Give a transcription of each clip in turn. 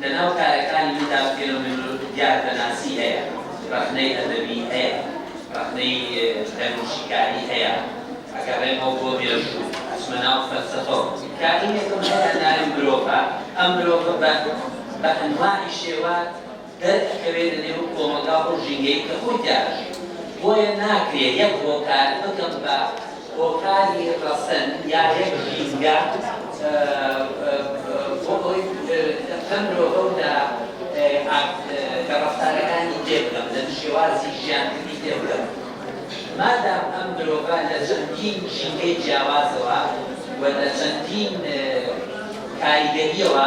لە ناو کارەکانی مندا فێنۆمێنۆلۆگی دیاردەناسی هەیە، ڕەخنەی ئەدەبی هەیە، ڕەخنەی دەروونشیکاری هەیە، ئەگەڕێمەوە بۆ مێژوو، ئەچمە ناو فەلسەفە و. کارینێکم هەیە ناوی مرۆڤە، ئەم مرۆڤە بە بە ئەنواعی شێوە دەرئەکەوێ لە نێو کۆمەڵگا و ئەو ژینگەی کە خۆی تیا ئەژی، بۆیە ناکرێ یەک هۆکار بکەم بە، هۆکاری ڕەسەن یا یەک ژینگە بۆ ئەوەی لەم مرۆڤە و لە ڕەفتارەکانی تێبگەم، لە شێوازی ژیانکردنی تێبگەم. مادام ئەم مرۆڤە لە چەندین ژینگەی جیاوازەوە و لە چەندین کاریگەرییەوە،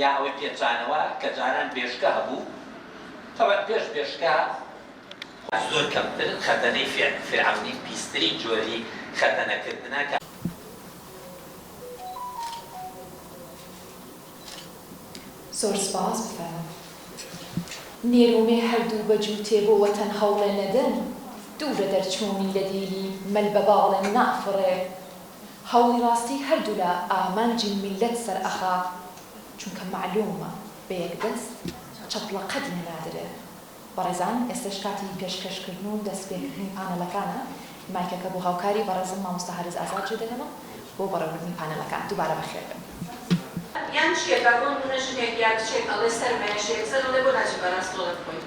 یا ئەوەی پێچانەوە کە جاران بێشکە هەبوو تەبعەن پێش بێشکە خۆ زۆر کەمتر خەتەنەی فیعل فیرعەونی پیسترین جۆری خەتەنە کردنە کە. زۆر سپاس بفەرموون نێرومێ هەردوو بە جووتێ بۆ وەتەن هەوڵێ نەدەن دوورە دەرچوونی لە دیلی مەل بە باڵێ نافڕێ. هەوڵی ڕاستی هەردولا ئامانجی میللەت سەرئەخا چونکە مەعلومە بە یەک دەست چەپڵە قەت لێ نادرێ بەڕێزان ئێستەش کاتی پێشکەش کردن و دەست پێ کردنی پانێڵەکانە مایکەکە بۆ هاوکاری بەڕێزم مامۆستا هەرز ئازاد جێ دەهێڵم بۆ بەڕێوە بردنی پانێڵەکان دوبارە بەخێر بێن. یان چیە کە بۆ نمونە ژنێک یا کچێک ئەڵێ سەرمایە شێرزەن ئەڵێ بۆ ناچی پاراستۆڵت بکۆیت.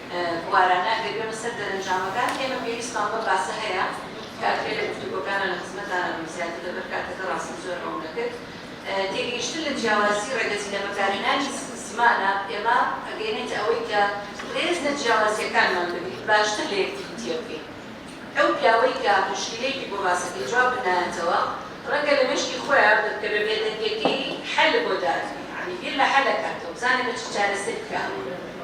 بوارانە ئەگەر بێمە سەر دەرەنجامەکان ئێمە پێویستمان بەم باسە هەیە کات بێ لە گفتوگۆکانا لە خزمەتتان ئەبم زیاتر لەبەر کاتەکە ڕاستم زۆر هەوڵ دەکرد تێگەیشتن لە جیاوازی ڕێگەچی لە بەکارهێنانی زمانە ئێمە ئەگەیەنێتە ئەوەی کە ڕێز لە جیاوازییەکانمان بگرین باشتر لە یەکتری تێبگەین. ئەو پیاوەی کە موشکیلەیەکی بۆ باسە کە جواب بنایەتەوە ڕەنگە لە مێشکی خۆیا بە کە بە بێدەنگەکەی حەل بۆ دادنێ یانی بیر لە حەل ئەکاتەوە بزانێ بە چ چارەسەر بکا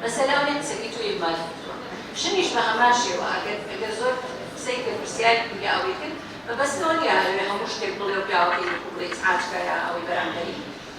مەسەلە ئەو نیە قسەکەی تۆ ئیهمال کردووە ژنیش بە هەمان شێوە ئەگەر ئەگەر زۆر قسەی کرد پرسیاری کرد یا ئەوەی کرد مەبەست لەوە نیە ئەوێ هەموو شتێک بڵێ و پیاوەکەی وەکوو بڵێ ئیزعاج کا یا ئەوەی بەرامبەری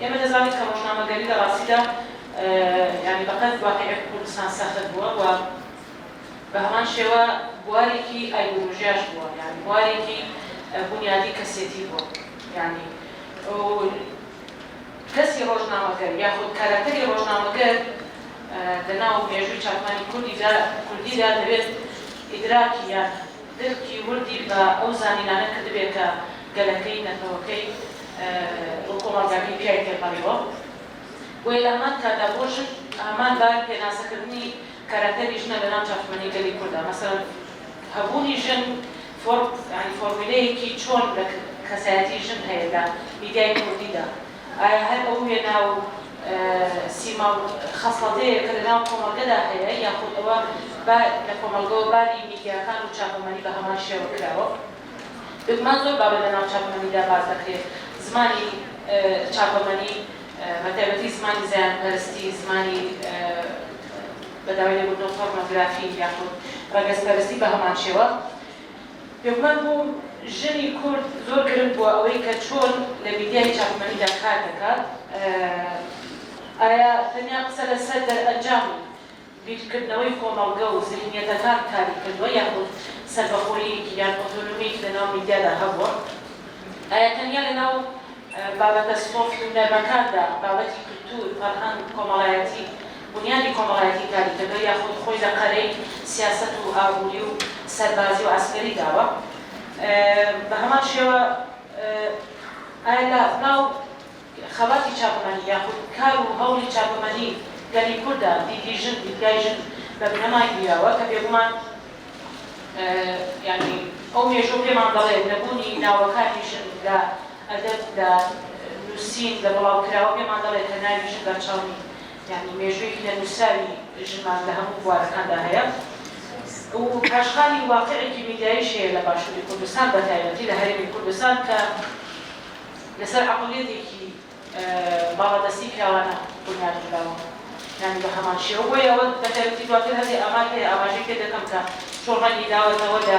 ئێمە دەزانین کە ڕۆژنامەگەری لە ڕاستیدا یانی بە قەد واقیعی کوردستان سەخت بووە و بە هەمان شێوە بوارێکی ئایدۆلۆژیاش بووە یانی بوارێکی بونیادی کەسێتی بووە یانی و کەسی ڕۆژنامەگەر یاخود کاراکتەری ڕۆژنامەگەر لە ناو مێژووی چاپمانی کوردیدا کوردیدا دەبێت ئیدراکی یان درکی وردی بە ئەو زانینانە کردبێ کە گەلەکەی، نەتەوەکەی و کۆمەڵگاکەی پیای تێپەڕیوە. بۆیە لە هەمان کاتدا بۆ ژن هەمان بار پێناسەکردنی کاراکتەری ژنە لە ناو چاپشمەنی گەلی کوردا. مەسەلەن هەبوونی ژن فۆرم، یانی فۆرمیلەیەکی چۆن لە کەسایەتی ژن هەیە لە میدیای کوردیدا. ئایا هەر ئەو وێنا و سیما و خەسڵەتەیە کە لەناو کۆمەڵگەدا هەیە یاخود ئەوە با لە کۆمەڵگەوە باری میدیاکان و چاپەمەنی بە هەمان شێوە کراوە؟ بێگومان زۆر بابەت لەناو چاپەمەنیدا باس دەکرێت زمانی چاپەمەنی بە تایبەتی زمانی زایەندپەرستی، زمانی بە داوای لێبوردن پۆرنۆگرافی یاخود ڕەگەزپەرستی بە هەمان شێوە. لوقمان بۆ ژنی کورد زۆر گرنگ بووە ئەوەی کە چۆن لە میدیای چاپەمەنیدا کار دەکات، ئایا تەنیا قسە لەسەر دەرئەنجام و بیرکردنەوەی کۆمەڵگە و زهنیەتەکان کاری کردووە یاخود سەربەخۆییەکی یان ئۆتۆنۆمییەکی لەناو میدیادا هەبووە؟ ئایا تەنیا لەناو بابەتە سۆفت و نەرمەکاندا، بابەتی کلتور، فەرهەنگ، کۆمەڵایەتی، بونیادی کۆمەڵایەتی تاریکەکە یاخود خۆی لە قەرەی سیاسەت و ئابووری و سەربازی و عەسکەری داوە بە هەمان شێوە ئایا لە ناو خەباتی چاپەمەنی یاخود کار و هەوڵی چاپەمەنی گەلی کورددا دیدی ژن دیدگای ژن بە بنەمای گیراوە کە بێگومان یانی ئەو مێژووە پێمان دەڵێت نەبوونی ناوەکانی ژن لە ئەدەب لە نووسین لە بڵاوکراوە پێمان دەڵێت کە ناوی ژن بەرچاو نین یانی مێژوویەکی نەنووسراوی ژنمان لە هەموو بوارەکاندا هەیە و پاشخانی واقعێکی میدیاییش هەیە لە باشووری کوردستان بە تایبەتی لە هەرێمی کوردستان کە لەسەر عەقڵیەتێکی باڵادەستی پیاوانە بونیاد نراوە یانی بە هەمان شێوە بۆیە بە تایبەتی دواتر هەندێ ئامار هەیە ئاماژەی پێ دەکەم کە چۆن ڕەنگی داوەتەوە لە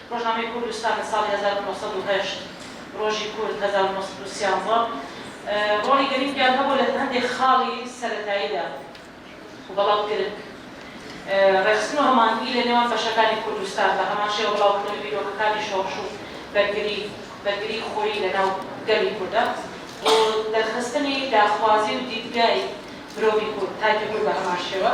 ڕۆژنامەی کوردستان لە ساڵی هەزار و نۆ سەد و هەشت، ڕۆژی کورد هەزار و نۆ سەد و سیانزە، ڕۆڵی گرنگیان هەبوو لە هەندێک خاڵی سەرەتاییدا و بەڵام گرنگ ڕێکخستن و هەماهەنگی لە نێوان بەشەکانی کوردستان، بە هەمان شێوە بڵاوکردنەوەی بیرۆکەکانی شۆڕش و بەرگری، بەرگری خۆیی لە ناو گەلی کوردا و دەرخستنی داخوازی و دیدگای مرۆڤی کورد، تایپی کورد بە هەمان شێوە.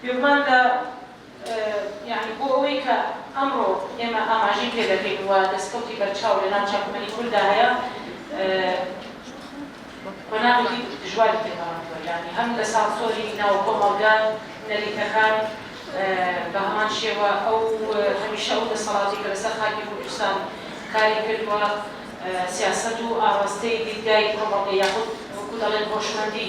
بێگومان لە یانی بۆ ئەوەی کە ئەمڕۆ ئێمە ئاماژەی پێ دەکەین و دەستکەوتی بەرچاو لە ناو چاپەمەنی کورددا هەیە قۆناغێکی دژواری تێ پەڕاندووە یانی هەم لە سانسۆری ناو کۆمەڵگە نەریتەکان بە هەمان شێوە ئەو هەمیشە ئەو دەسەڵاتی کە لەسەر خاکی کوردستان کاری کردووە سیاسەت و ئاڕاستەی دیدگای کۆمەڵگە یاخود وەکوو دەڵێن هۆشمەندی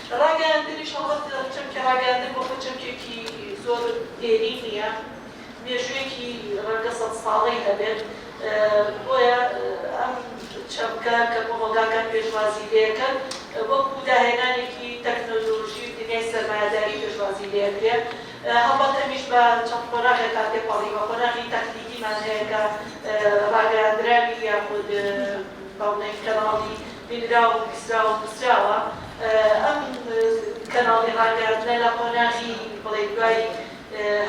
ڕاگەیاندنیش هەڵبەت چەمکی ڕاگەیاندن بۆ خۆی چەمکێکی زۆر دێرین نییە، مێژوویەکی ڕەنگە سەد ساڵەی هەبێت، بۆیە ئەم چەمکە کە کۆمەڵگاکان پێشوازی لێکەن وەکو داهێنانێکی تەکنۆلۆژی و دنیای سەرمایەداری پێشوازی لێکرێ، هەڵبەت ئەمیش بە چەند قۆناغێکا تێپەڕیوە، قۆناغی تەکتیکیمان هەیە کە ڕاگەیاندراوی یاخود بەڵێن کەناڵی. بینراو و بیستراو و نوسراوە ئەم کەناڵی ڕاگەیاندنە لە قۆناغی بڵێی دوای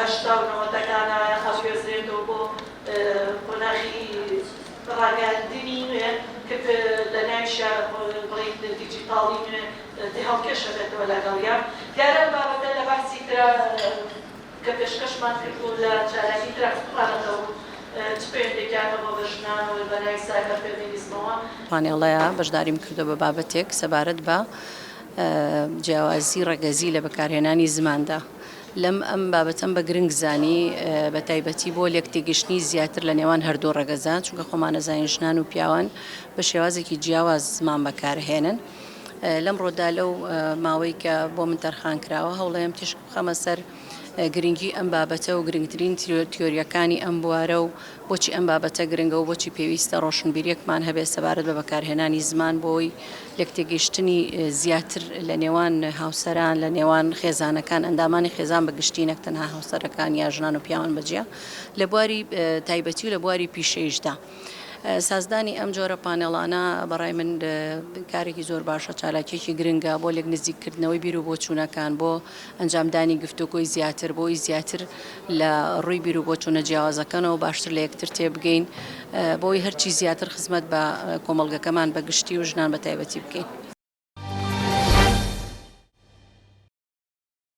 هەشتا و نەوەتەکانا ئەگوێزرێتەوە بۆ قۆناغی ڕاگەیاندنی نوێ ک لە ناویشیا بڵێین دیجیتاڵی نوێ تێهەڵکێشە بێتەوە لەگەڵیا دیارە ئەم بابەتە لە بەحسی کرا کە پێشکەشمان کردبوو لە چالاکی کرافت پلانەتە و چ پەیوەندیەکیان هەبووە بە ژنان و بە ناوی سایبەر فێمینیزمەوە. پانێڵەیا بەشداریم کردووە بە بابەتێک سەبارەت بە جیاوازی ڕەگەزی لە بەکارهێنانی زماندا. لەم ئەم بابەتەم بە گرنگ زانی بە تایبەتی بۆ لێک تێگەشتنی زیاتر لە نێوان هەردوو ڕەگەزە، چونکە خۆمان ئەزانین ژنان و پیاوان بە شێوازێکی جیاواز زمان بەکارهێنن. لەمڕۆدا لەو ماوەی کە بۆ من تەرخان کراوە هەوڵەیەم تیشک. بخەمە سەر گرنگی ئەم بابەتە و گرنگترین تیۆریەکانی ئەم بوارە و بۆچی ئەم بابەتە گرنگە و بۆچی پێویستە ڕۆشنبیریەکمان هەبێت سەبارەت بە بەکارهێنانی زمان بۆی لەکتێگەیشتنی زیاتر لە نێوان هاوسەران لە نێوان خێزانەکان ئەندامانی خێزان بە گشتی نەک تەنها هاوسەرەکان یا ژنان و پیاوان بەجیا لە بواری تایبەتی و لە بواری پیشەیشدا. سازدانی ئەم جۆرە پانێڵانە بەڕای من کارێکی زۆر باشە چالاکیەکی گرنگە بۆ لێک نزیککردنەوەی بیر و بۆچوونەکان بۆ ئەنجامدانی گفتوگۆی زیاتر بۆی زیاتر لە ڕووی بیر و بۆچوونە جیاوازەکانەوە باشتر لە یەکتر تێبگەین بۆی هەرچی زیاتر خزمەت بە کۆمەڵگەکەمان بە گشتی و ژنان بە تایبەتی بکەین.